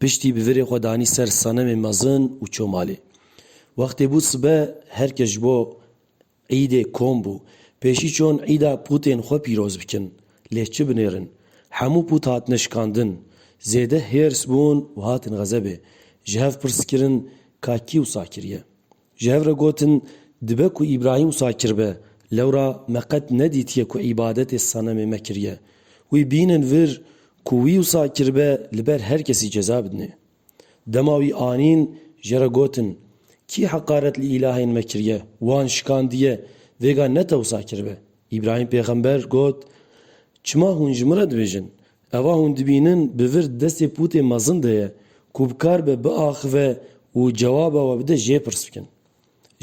Piştî bi virê xwe danî ser senemê mezin û çû malê. Wextê bû sibe, her kes ji bo îdê kom bû. Pêşî çûn îda pûtên xwe pîroz bikin, lê çi binêrin. Hemû pût hatine şikandin. Zêde hêrs bûn û hatin xezebê. Ji hev pirs kirin ka kî wisa kiriye. Ji hev re gotin, Dibe ku Îbrahîm wisa kiribe, lewra me qet nedîtiye ku îbadetê senemê me kiriye. Wî bînin vir ku wî wisa kiribe li ber her kesî ceza bidinê. Dema wî anîn, ji re gotin, Kî heqaret li îlahên me kiriye, wan şikandiye, vêga ne te wisa kiribe? Îbrahîm pêxember got, Çima hûn ji min re dibêjin, Eva hûn dibînin bi vir destê pûtê mezin de ye ku bi kar be biaxive û cewaba we bide jê pirs bikin.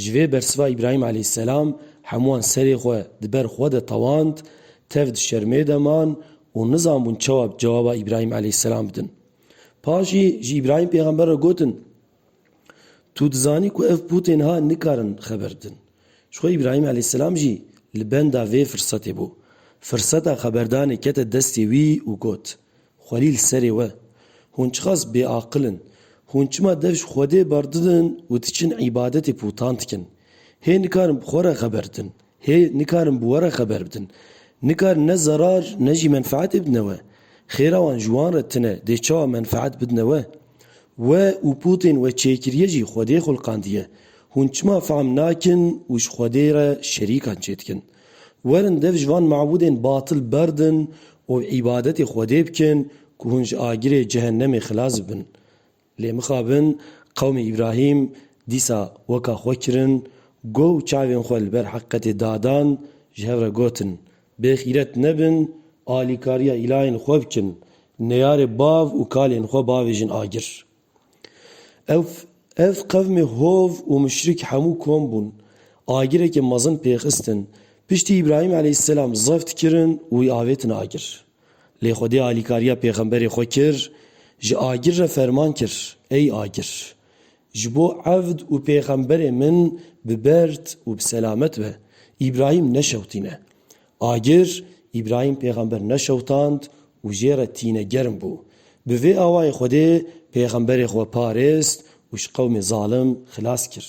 Ji vê bersiva Îbrahîm aleyhîsselam hemûan serê xwe di ber xwe de tewand, tev di şermê de man û nizanbûn çawa cewaba Îbrahîm aleyhîsselam bidin. Paşî ji Îbrahîm pêxember re gotin. Tu dizanî ku ev pûtên ha nikarin xeber bidin. Jixwe Îbrahîm eleyhîsselam jî li benda vê firsetê bû. Firseta xeberdanê kete destê wî û got, Xwelî li serê we! Hûn çiqas bêaqil in! Hûn çima dev ji Xwedê berdidin û diçin îbadetê pûtan dikin? Hê nikarin bi xwe re xeber bidin. Hê nikarin bi we re xeber bidin. Nikarin ne zerar ne jî menfeetê bidine we. Xêra wan ji wan re tune dê çawa menfeet bidine we? We û potên we çêkiriye jî Xwedê xulqandiye. Hûn çima fehm nakin û ji Xwedê re şerîkan çêdikin? Werin dev ji van mabûdên batil berdin û îbadetê Xwedê bikin ku hûn ji agirê cehennemê xilas bibin. Lê mixabin qewmê Îbrahîm dîsa weka xwe kirin, go û çavên xwe li ber heqîqetê dadan, ji hev re gotin, Bê xîret nebin, alîkariya îlahên xwe bikin, neyarê bav û kalên xwe bavêjin agir. Ev ev qewmê hov û muşrik hemû kom bûn, agirekê mezin pêxistin, piştî Îbrahîm eleyhîsselam zeft kirin û wî avêtin agir. Lê Xwedê alîkariya pêxemberê xwe kir, ji agir re ferman kir, Ey agir! Ji bo evd û pêxemberê min bi berd û bi selamet be, Îbrahîm neşewtîne. Agir, Îbrahîm pêxember neşewtand û jê re tîne germ bû. Bi vê awayê Xwedê pêxemberê xwe parêst û ji qewmê zalim xilas kir.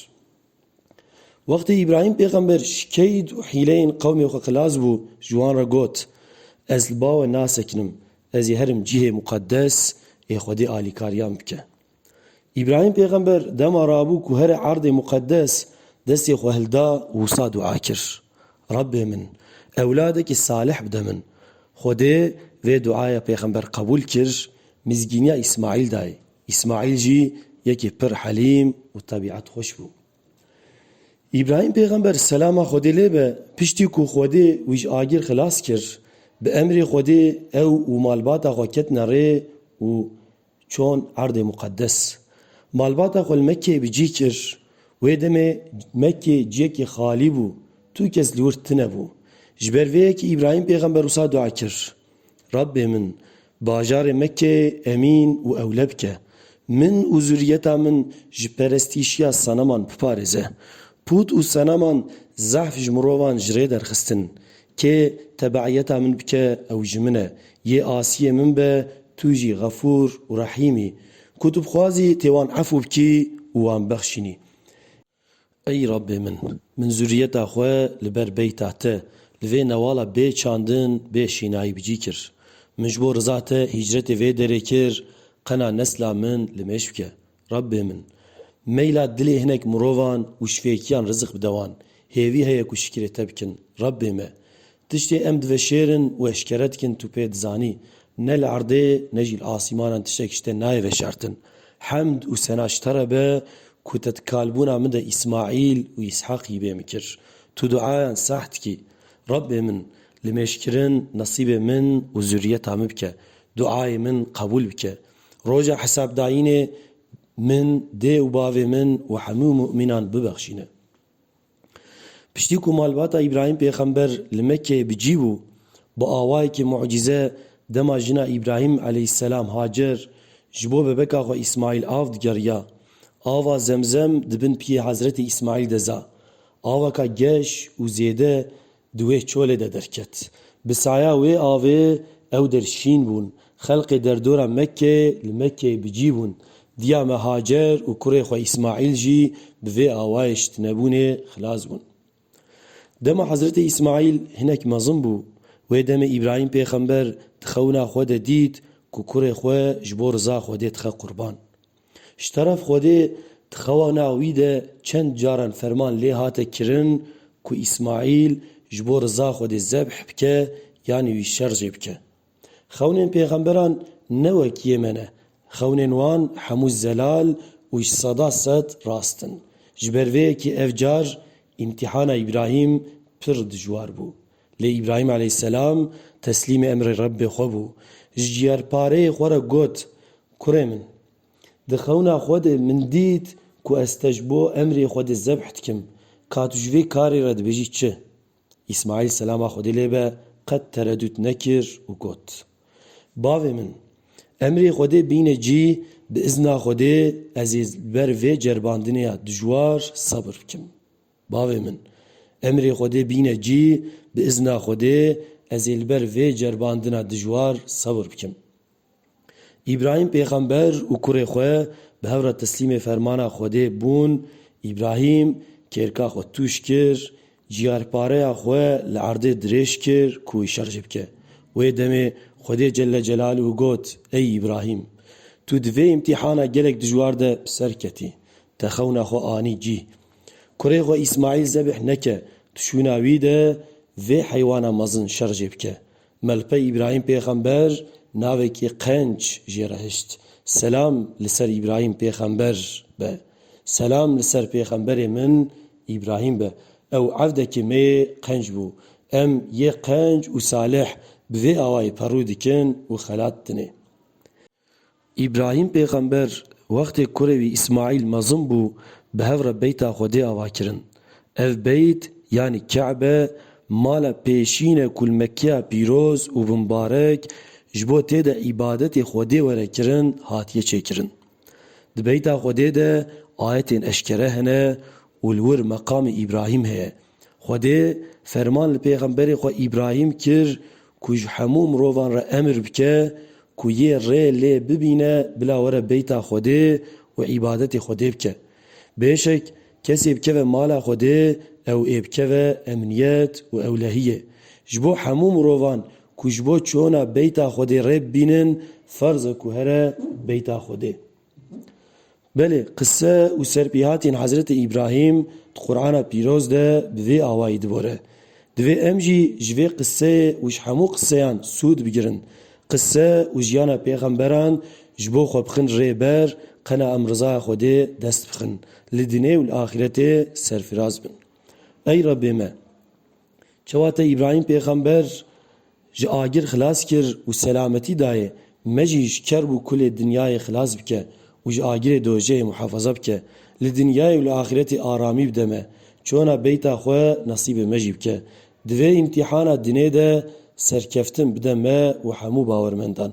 Wextê Îbrahîm pêxember ji keyd û hîleyên qewmê xwe xilas bû, ji wan re got, Ez li ba we nasekinim, ez ê herim cihê muqedes ê Xwedê alîkariyan bike. Îbrahîm pêxember dema rabû ku here erdê muqedes destê xwe hilda wisa dua kir, Rebê min, ewladekî salih bide min. Xwedê vê duaya pêxember qebûl kir, mizgîniya Îsmaîl dayê. Îsmaîl jî yekê pir helîm û tebîet xweş bû. Îbrahîm pêxember selama Xwedê lê be piştî ku Xwedê wî ji agir xilas kir, bi emrê Xwedê ew û malbata xwe ketine rê û çûn Erdê Muqeddes. Malbata xwe li Mekkeyê bi cih kir. Wê demê Mekke ciyekê xalî bû, tu kes li wir tine bû. Ji ber vê yekê Îbrahîm pêxember wisa dua kir, Rebbê min! Bajarê me ke emîn û ewle bike. Min û zuriyeta min ji perestîşiya seneman biparêze. Pût û seneman zehf ji mirovan ji rê derxistin. Kê tebeîyeta min bike ew ji min e. Yê asiyê min be tu jî xefûr û rehîm î. Ku tu bixwazî tê wan efû bikî û wan bexşînî. Ey Rabbê min! Min zuriyeta xwe li ber beyta Te, li vê newala bê çandin, bê şînayî bicî kir. Min ji bo riza Te hîcretê vê derê kir, qena nesla min li mêj bike. Rabbê min! Meyla dilê hinek mirovan û şivêkiyan rizik bide wan. Hêvî heye ku şikirê Te bikin. Rabbê me! Tiştê em diveşêrin û eşkere dikin tu pê dizanî, ne li erdê ne jî li asîmanan tiştek ji te nayê veşartin. Hemd û sena ji te re be ku te di kalbûna min de Îsmaîl û Îshaqî bê min kir. Tu duayan sah dikî, Rebbê min, li mêşkirin nesîbê min û zurriyeta min bike, duayê min qebûl bike. Roja hesabdayînê min dê û bavê min û hemû mumînan bibexşîne. Piştî ku malbata Îbrahîm pêxember li Mekkeyê bi cî bû, bi awayekî mucîze dema jina Îbrahîm aleyhîsselam Hacer ji bo bebeka xwe Îsmaîl av digeriya. Ava Zemzem di bin piyê Hezretî Îsmaîl de za. Aweka geş û zêde di wê çolê de derket. Bi saya wê avê ew der şîn bûn. Xelqê derdora Mekkê li Mekkeyê bi cî bûn. Diya me Hacer û kurê xwe Îsmaîl jî bi vê awayê şitinebûnê xilas bûn. Dema Hezretê Îsmaîl hinek mezin bû, wê demê Îbrahîm pêxember di xewina xwe de dît ku kurê xwe ji bo riza Xwedê dixe qurban. Ji teref Xwedê di xewana wî de çend caran ferman lê hate kirin ku Îsmaîl ji bo riza Xwedê zebh bike yanî wî şer jê bike. Xewnên pêxemberan ne wek yê me ne, xewnên wan hemû zelal û ji seda sed rast in. Ji ber vê yekê ev car îmtîhana Îbrahîm pir dijwar bû. Lê Îbrahîm aleyhîsselam teslîmê emrê Rebbê xwe bû. Ji ciyerpareyê xwe re got, Kurê min! Di xewna xwe de min dît ku ez te ji bo emrê Xwedê zebh dikim. Ka tu ji vê karê re dibêjî çi? Îsmaîl selama Xwedê lê be qet teredût nekir û got, Bavê min! Emrê Xwedê bîne cî, bi îzna Xwedê ez ê li ber vê ceribandinê ya dijwar sebir bikim. Bavê min! Emrê Xwedê bîne cî, bi izna Xwedê ez ê li ber vê ceribandina dijwar sebr bikim. Îbrahîm pêxember û kurê xwe bi hev re teslîmê fermana Xwedê bûn, Îbrahîm kêrka xwe tûj kir, ciyarpareya xwe li erdê dirêj kir ku wî şer jê bike. Wê demê Xwedê Celle Celaluhu got, Ey Îbrahîm! Tu di vê îmtîhana gelek dijwar de bi ser ketî, te xewna xwe anî cî. Kurê xwe Îsmaîl zebîh neke, tu şûna wî de vê heywana mezin şer jê bike. Melpey Îbrahîm pêxember navekî qenc jê re hişt. Selam li ser Îbrahîm pêxember be. Selam li ser pêxemberê min Îbrahîm be. Ew evdekê me yê qenc bû. Em yê qenc û salih bi vê awayî perû dikin û xelat dinê. Îbrahîm pêxember wextê kurê wî Îsmaîl mezin bû bi hev re beyta Xwedê ava kirin. Ev beyt yanî Ke'be mala pêşîn e ku li Mekkeya pîroz û bimbarek ji bo tê de îbadetê Xwedê were kirin hatiye çêkirin. Di beyta Xwedê de ayetên eşkere hene û li wir meqamê Îbrahîm heye. Xwedê ferman li pêxemberê xwe Îbrahîm kir ku ji hemû mirovan re emir bike ku yê rê lê bibîne bila were beyta Xwedê û îbadetê Xwedê bike. Bêşek kesê bikeve mala Xwedê ew ê bikeve emniyet û ewlehiyê. Ji bo hemû mirovan ku ji bo çûna beyta Xwedê rê bibînin ferz e ku here beyta Xwedê. Belê, qise û serpêhatiyên Hezretê Îbrahîm di Qur'ana Pîroz de bi vê awayî dibore. Divê em jî ji vê qiseyê û ji hemû qiseyan sûd bigirin. Qise û jiyana pêxemberan ji bo xwe bixin rê ber, qena em rizaya Xwedê dest bixin, li dinê û li axîretê serfiraz bin. Ey Rebbê me! Çawa te Îbrahîm pêxember ji agir xilas kir û selametî dayê, me jî ji kerb û kulê dinyayê xilas bike û ji agirê dojehê muhefaza bike. Li dinyayê û li axîretê aramî bide me. Çona beyta xwe nesîbê me jî bike. Di vê îmtîhana dinê de serkeftin bide me û hemû bawermendan.